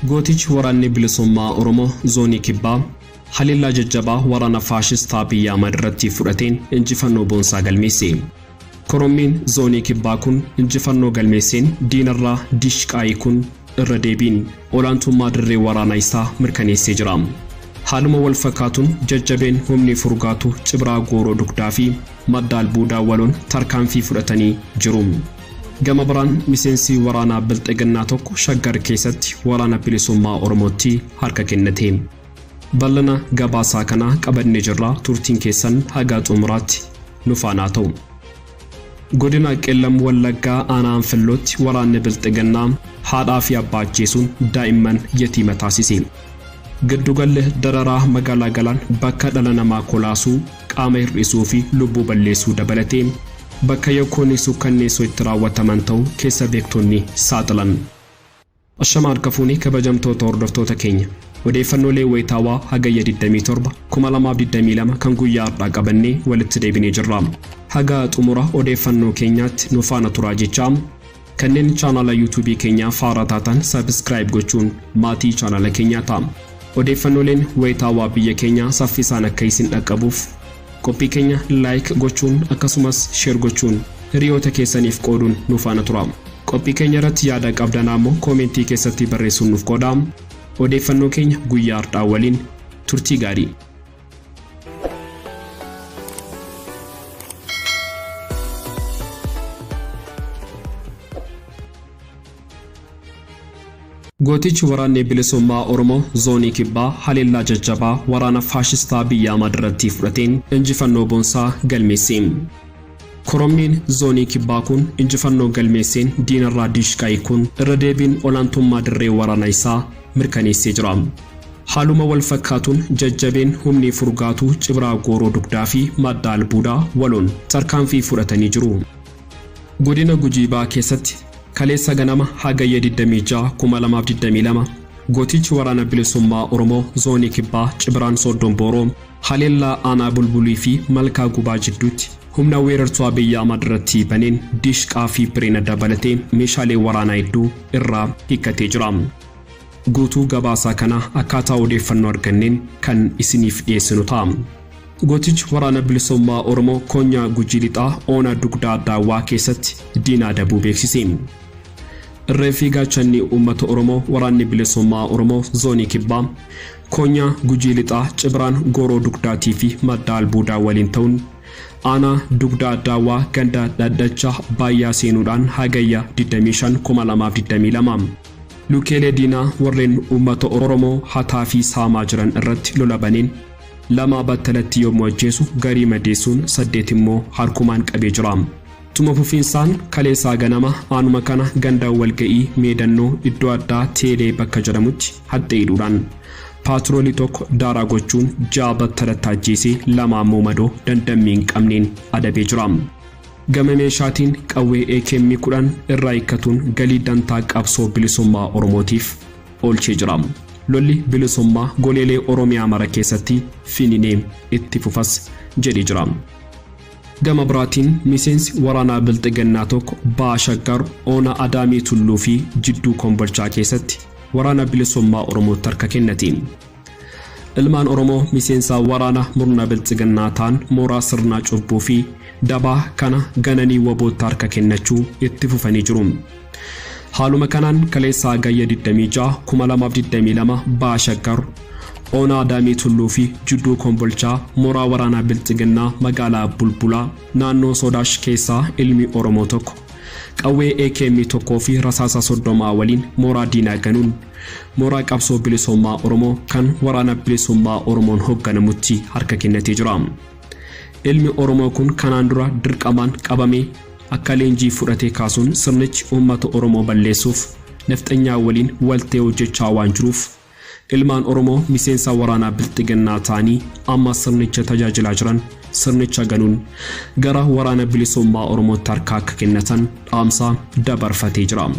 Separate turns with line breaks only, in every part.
Gootichi waraanni bilisummaa Oromoo zoonii kibbaa haleellaa jajjabaa waraana faashistaa Abiy Ahmad irratti fudhateen injifannoo boonsaa galmeesse. Korommiin Zoonii Kibbaa kun injifannoo galmeesseen diinarraa Diishqaa hiikuun irra deebiin olaantummaa dirree waraanaa isaa mirkaneessee jira. Haaluma wal fakkaatuun jajjabeen humni Furgaatu Cibraa Gooroo Dugdaa fi Madda Albuudaa waloon tarkaanfii fudhatanii jiru. Gama biraan miseensi waraanaa Bilxiginnaa tokko Shaggar keessatti Waraana Bilisummaa Oromootti harka kennate. Ballana gabaasaa kana qabannee jirra turtiin keessan haga xumuraatti nu faana haa ta'u. Godina Qellam Wallaggaa aanaa Anfillootti waraanni Bilxiginnaa haadhaa fi abbaa ajjeesuun daa'imman yatiima taasise. Giddugalli dararaa magaalaa Galaan bakka dhala namaa kolaasuu, qaama hir'isuu fi lubbuu balleessuu dabalatee bakka yakkoonni sukkanneessoo itti raawwataman ta'uu keessa beektonni saaxilan. Ashama harka fuune kabajamtoota hordoftoota keenya. Odeeffannoolee wayitaawaa Hagayya 27, 2022 kan guyyaa har'aa qabannee walitti deebinee jirra. Haga xumura odeeffannoo keenyaatti nu faana turaa jechaa kanneen chaanaala YouTube keenyaa faaraa taatan subscribe gochuun maatii chaanaala keenyaa ta'a. Odeeffannooleen wayitaawaa biyya keenyaa saffisaan akka isin dhaqqabuuf Qophii keenya like gochuun akkasumas share gochuun hiriyoota keessaniif qooduun nu faana turaa. Qophii keenya irratti yaada qabdan ammoo koomentii keessatti barreessuun nuuf qoodaa. Odeeffannoo keenya guyyaa hardhaa waliin turtii gaarii. Gootichi Waraanni Bilisummaa Oromoo Zoonii Kibbaa haleellaa jajjabaa waraana faashistaa Abiy Ahmad irratti fudhateen injifannoo boonsaa galmeesse. Koromniin Zoonii Kibbaa kun injifannoo galmeesseen diinarraa diishqaa hiikuun irra deebiin olaantummaa dirree waraanaa isaa mirkaneessee jira. Haaluma wal fakkaatuun jajjabeen humni Furgaatuu Cibraa Gooroo Dugdaa fi Madda Albuudaa waloon tarkaanfii fudhatanii jiru. Godina Gujii Bahaa keessatti kaleessa ganama Hagayya 26,2022 gootichi Waraana Bilisummaa Oromoo Zoonii Kibbaa Cibraan Sooddoon Booroo haleellaa aanaa Bulbulii fi Malkaa Gubaa jidduutti humna weerartuu Abiy Ahmad irratti baneen Diishqaa fi Birena dabalatee meeshaalee waraanaa hedduu irraa hiikkatee jira. Guutuu gabaasaa kana akkaataa odeeffannoo arganneen kan isiniif dhiyeessinu ta'a. Gootichi Waraana Bilisummaa Oromoo Koonyaa Gujii Lixaa Oona Dugdaa Daawwaa keessatti diina adabuu beeksise. Irree fi gaachanni uummata Oromoo Waraanni Bilisummaa Oromoo Zoonii Kibbaa Koonyaa Gujii Lixaa Cibiraan Gooroo Dugdaatii fi Madda Albuudaa waliin ta'uun aanaa Dugdaa Daawwaa ganda Dhadhacha Baayyaa seenuudhaan Hagayya 25,2022 Lukeelee diinaa warreen uummata Oromoo hataa fi saamaa jiran irratti lola baneen lama battalatti yommuu ajjeesu garii madeessuun saddeet immoo harkumaan qabee jira. Tuma fufiinsaan kaleessaa ganama aanuma kana ganda walga'ii meedannoo iddoo addaa Teelee bakka jedhamutti haxxee hidhuudhaan paatroolii tokko daaraa gochuun ja'a battalatti ajjeesee lama ammoo madoo dandammi hin qabneen adabee jira. Gama meeshaatiin qawwee akm 10 irraa hiikkatuun galii dantaa qabsoo bilisummaa Oromootiif oolchee jira. Lolli bilisummaa goleelee Oromiyaa mara keessatti finiinee itti fufas jedhee jira. Gama biraatiin miseensi waraanaa Bilxiginnaa tokko Baha Shaggar Ona Adaamii Tulluu fi Jidduu Kombolchaa keessatti Waraana Bilisummaa Oromootti harka kennate. Ilmaan Oromoo miseensa waraana murna biltsiginnaa taan mooraa sirna cubbuu fi dabaa kana gananii wabootti harka kennachuu itti fufanii jiru. Haaluma kanaan kaleessa Hagayya 26, 2022 Baha Shaggar ona Adaamii Tulluu fi Judduu Kombolchaa mooraa waraanaa biltsiginnaa magaalaa Bulbulaa naannoo Soodaash keessaa ilmi Oromoo tokko qawwee AKM 1 fi rasaasa 30 waliin mooraa diinaa ganuun Mooraa qabsoo bilisummaa Oromoo kan waraana bilisummaa Oromoon hoogganamutti harka kennatee jira. Ilmi Oromoo kun kanaan dura dirqamaan qabamee akka leenjii fudhatee kaasuun sirnichi uummata Oromoo balleessuuf nafxanyaa waliin waltee hojjechaa waan jiruuf ilmaan Oromoo miseensa waraanaa bilxiginnaa ta'anii amma sirnicha tajaajilaa jiran sirnicha ganuun gara waraana bilisummaa Oromootti harka akka kennatan dhaamsa dabarfatee jira.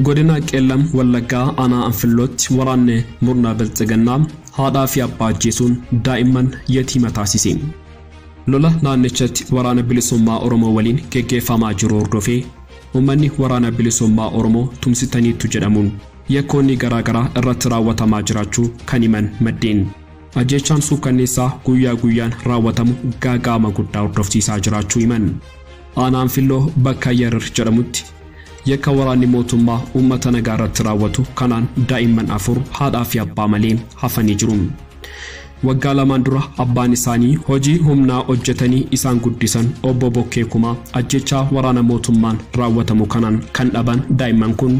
Godina Qeellam Wallaggaa Aanaa Anfillootti waraanni murna Bilxiginnaa haadhaa fi abbaa ajjeesuun daa'imman yatiima taasise. Lola naannichatti Waraana Bilisummaa Oromoo waliin geggeeffamaa jiru hordofee uummanni Waraana Bilisummaa Oromoo tumsitaniittu jedhamuun yakkoonni garaa garaa irratti raawwatamaa jiraachuu kan himan maddeen, ajjeechaan suukkanneessaa guyyaa guyyaan raawwatamu gaaga'ama guddaa hordofsiisaa jiraachuu himan. Aanaa Anfilloo bakka Yarar jedhamutti Yakka waraanni mootummaa uummata nagaa irratti raawwatu kanaan daa'imman afur haadhaa fi abbaa malee hafanii jiru. Waggaa lamaan dura abbaan isaanii hojii humnaa hojjetanii isaan guddisan obbo Bokkee Kumaa ajjeechaa waraana mootummaan raawwatamu kanaan kan dhaban daa'imman kun,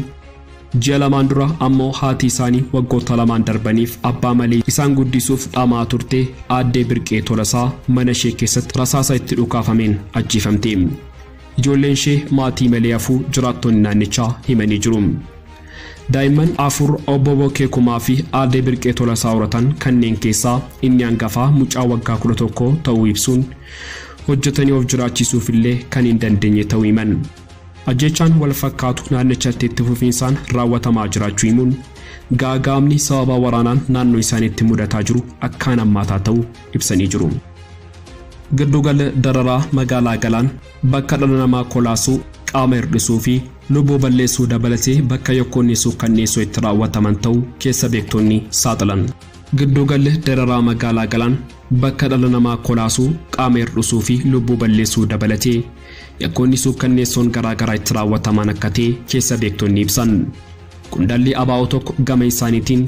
Ji'a lamaan dura ammoo haati isaanii waggoota lamaan darbaniif abbaa malee isaan guddisuuf dhama'aa turte Aaddee Birqee Tolasaa mana ishee keessatti rasaasa itti dhukaafameen ajjeefamte. Ijoolleen ishee maatii malee hafuu jiraattonni naannichaa himanii jiru. Daa'imman afur Obbo Bokkee Kumaa fi Aaddee Birqee Tolasaa horatan kanneen keessaa inni hangafaa mucaa waggaa 11 ta'uu ibsuun hojjetanii of jiraachisuuf illee kan hin dandeenye ta'uu himan. Ajjeechaan wal fakkaatu naannichatti itti fufiinsaan raawwatamaa jiraachuu himuun, gaaga'amni sababa waraanaan naannoo isaaniitti mudataa jiru akkaan hammaataa ta'uu ibsanii jiru. Gidduugalli dararaa magaalaa Galaan bakka dhala namaa kolaasuu, qaama hirdhisuu fi lubbuu balleessuu dabalatee bakka yakkoonni suukkanneessoo itti raawwataman ta'uu keessa beektonni saaxilan. Gidduugalli dararaa magaalaa Galaan bakka dhala namaa kolaasuu, qaama hirdhisuu fi lubbuu balleessuu dabalatee yakkoonni suukkanneessoon garaa garaa itti raawwatamaan akka ta'e keessa beektonni ibsan. Qondaalli ABO tokko gama isaaniitiin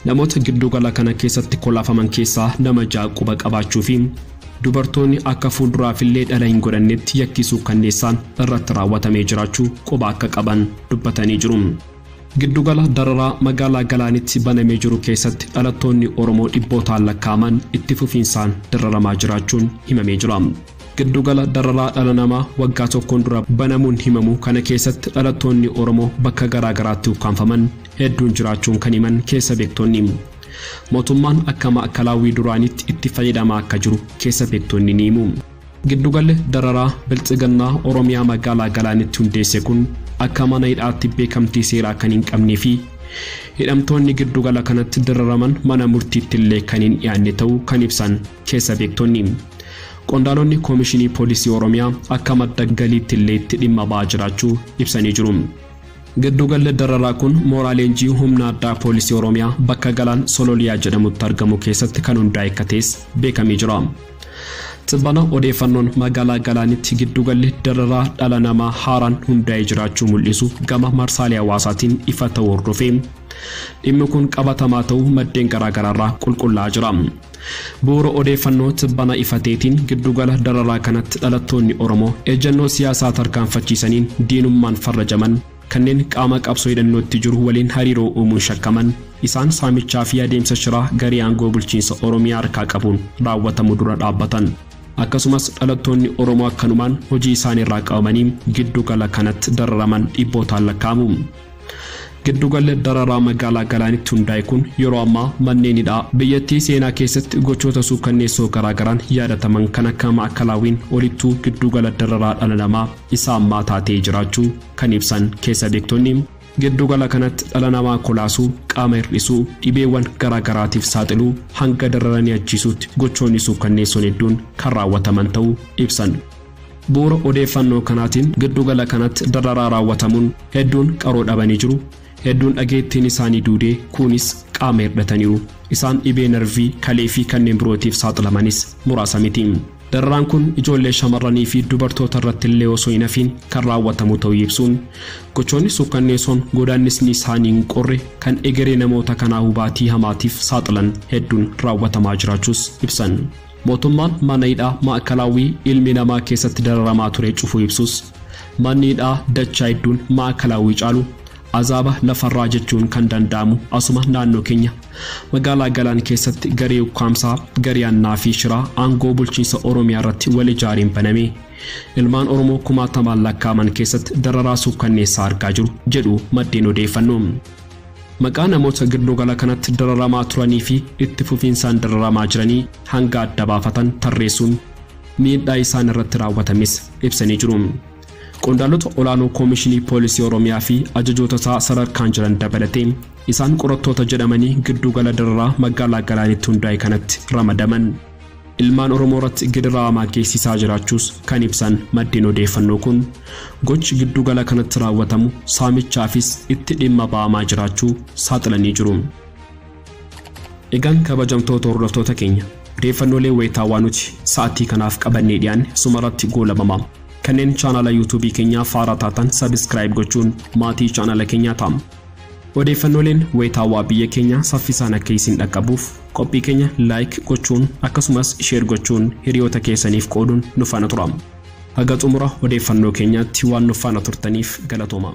namoota giddugala kana keessatti kolaafaman keessaa nama ja'a quba qabaachuu fi dubartoonni akka fuulduraafillee dhala hin godhannetti yakkii suukkanneessaan irratti raawwatamee jiraachuu quba akka qaban dubbatanii jiru. Giddugala dararaa magaalaa Galaanitti banamee jiru keessatti dhalattoonni Oromoo dhibbootaan lakkaa'aman itti fufiinsaan dararamaa jiraachuun himamee jira. Giddugala dararaa dhala namaa waggaa tokkoon dura banamuun himamu kana keessatti dhalattoonni Oromoo bakka garaa garaatti ukkaamfaman hedduun jiraachuun kan himan keessa beektonni, mootummaan akka maa'kalaawwii duraaniitti itti fayyadamaa akka jiru keessa beektonni ni himu. Giddugalli dararaa Biltsiginnaa Oromiyaa magaalaa Galaanitti hundeesse kun akka mana hidhaatti beekamtii seeraa kan hin qabnee fi hidhamtoonni giddugala kanatti dararaman mana murtiitti illee kan hin dhiyaanne ta'uu kan ibsan, Keessa beektonni. Qondaalonni Koomishinii Poolisii Oromiyaa akka madda galiitti illee itti dhimma ba'aa jiraachuu ibsanii jiru. Giddugalli dararaa kun mooraa leenjii humna addaa Poolisii Oromiyaa bakka Galaan Sololiyaa jedhamutti argamu keessatti kan hundaa'e akka ta'es beekamee jira. Tibbana odeeffannoon magaalaa Galaanitti giddugalli dararaa dhala namaa haaraan hundaa'ee jiraachuu mul'isu gama marsaalee hawaasaatiin ifa ta'uu hordofee dhimmi kun qabatamaa ta'uu maddeen garaagaraarraa qulqullaa'aa jira. Bu'uura odeeffannoo tibbana ifa ta'etiin giddugala dararaa kanatti dhalattoonni Oromoo ejjannoo siyaasaa tarkaanfachiisaniin diinummaan farrajaman, kanneen qaama qabsoo hidhannootti jiru waliin hariiroo uumuun shakkaman, isaan saamichaa fi adeemsa shiraa garee aangoo bulchiinsa Oromiyaa harkaa qabuun raawwatamu dura dhaabbatan. Akkasumas dhalattoonni Oromoo akkanumaan hojii isaaniirraa qabamanii giddugala kanatti dararaman dhibbootaan lakkaa'amu. Giddugalli dararaa magaalaa Galaanitti hundaa'e kun yeroo ammaa manneen hidhaa biyyattii seenaa keessatti gochoota suukkanneessoo garaagaraan yaadataman kan akka Maa'akalaawiin olittuu giddugala dararaa dhala namaa isa ammaa taatee jiraachuu kan ibsan keessa beektonni, giddugala kanatti dhala namaa kolaasuu, qaama hir'isuu, dhibeewwan garaagaraatiif saaxiluu, hanga dararanii ajjeesuutti gochoonni suukkanneessoon hedduun kan raawwataman ta'uu ibsan. Bu'uura odeeffannoo kanaatiin giddugala kanatti dararaa raawwatamuun hedduun qaroo dhabanii jiru, hedduun dhageettiin isaanii duude, kuunis qaama hirdhataniiru. Isaan dhibee narvii, kalee fi kanneen birootiif saaxilamanis muraasa miti. Dararaan kun ijoollee shamarranii fi dubartoota irratti illee osoo hin hafiin kan raawwatamu ta'uu ibsuun, gochoonni suukkanneesoon godaannisni isaanii hin qorre kan egeree namoota kanaa hubaatii hamaatiif saaxilan hedduun raawwatamaa jiraachuus ibsan. Mootummaan mana hidhaa Maa'ikalaawwii ilmi namaa keessatti dararamaa ture cufuu ibsus, manni hidhaa dachaa hedduun Maa'ikalaawwii caalu azaaba lafarraa jechuun kan danda'amu asuma naannoo keenya magaalaa Galaan keessatti garee ukkaamsaa, garee hannaa fi shiraa aangoo bulchiinsa Oromiyaa irratti wal ijaareen baname ilmaan Oromoo kumaatamaan lakkaa'aman keessatti dararaa suukkanneessaa argaa jiru jedhu maddeen odeeffannoo. Maqaa namoota giddu gala kanatti dararamaa turanii fi itti fufiinsaan dararamaa jiranii hanga adda baafatan tarreessuun miidhaa isaan irratti raawwatames ibsanii jiru. Qondaalota olaanoo Koomishinii Poolisii Oromiyaa fi ajajoota isaa sadarkaan jiran dabalatee isaan qorattoota jedhamanii giddu gala dararaa magaalaa Galaanitti hundaa'e kanatti ramadaman. ilmaan Oromoo irratti gidiraa hamaa geessisaa jiraachuus kan ibsan maddeen odeeffannoo kun, gochi giddu gala kanatti raawwatamu saamichaafis itti dhimma ba'amaa jiraachuu saaxilanii jiru. Egaan kabajamtoota hordoftoota keenya, odeeffannoolee wayitaawaa nuti sa'attii kanaaf qabannee dhiyaanne sumarratti goolabama. Kanneen chaanala YouTube keenyaaf haaraa taatan subscribe gochuun maatii chaanala keenyaa ta'a. Odeeffannooleen wayitaawaa biyya keenyaa saffisaan akka isin dhaqqabuuf qophii keenya like gochuun akkasumas share gochuun hiriyoota keessaniif qooduun nu faana tura. Haga xumura odeeffannoo keenyaatti waan nu faana turtaniif galatoomaa.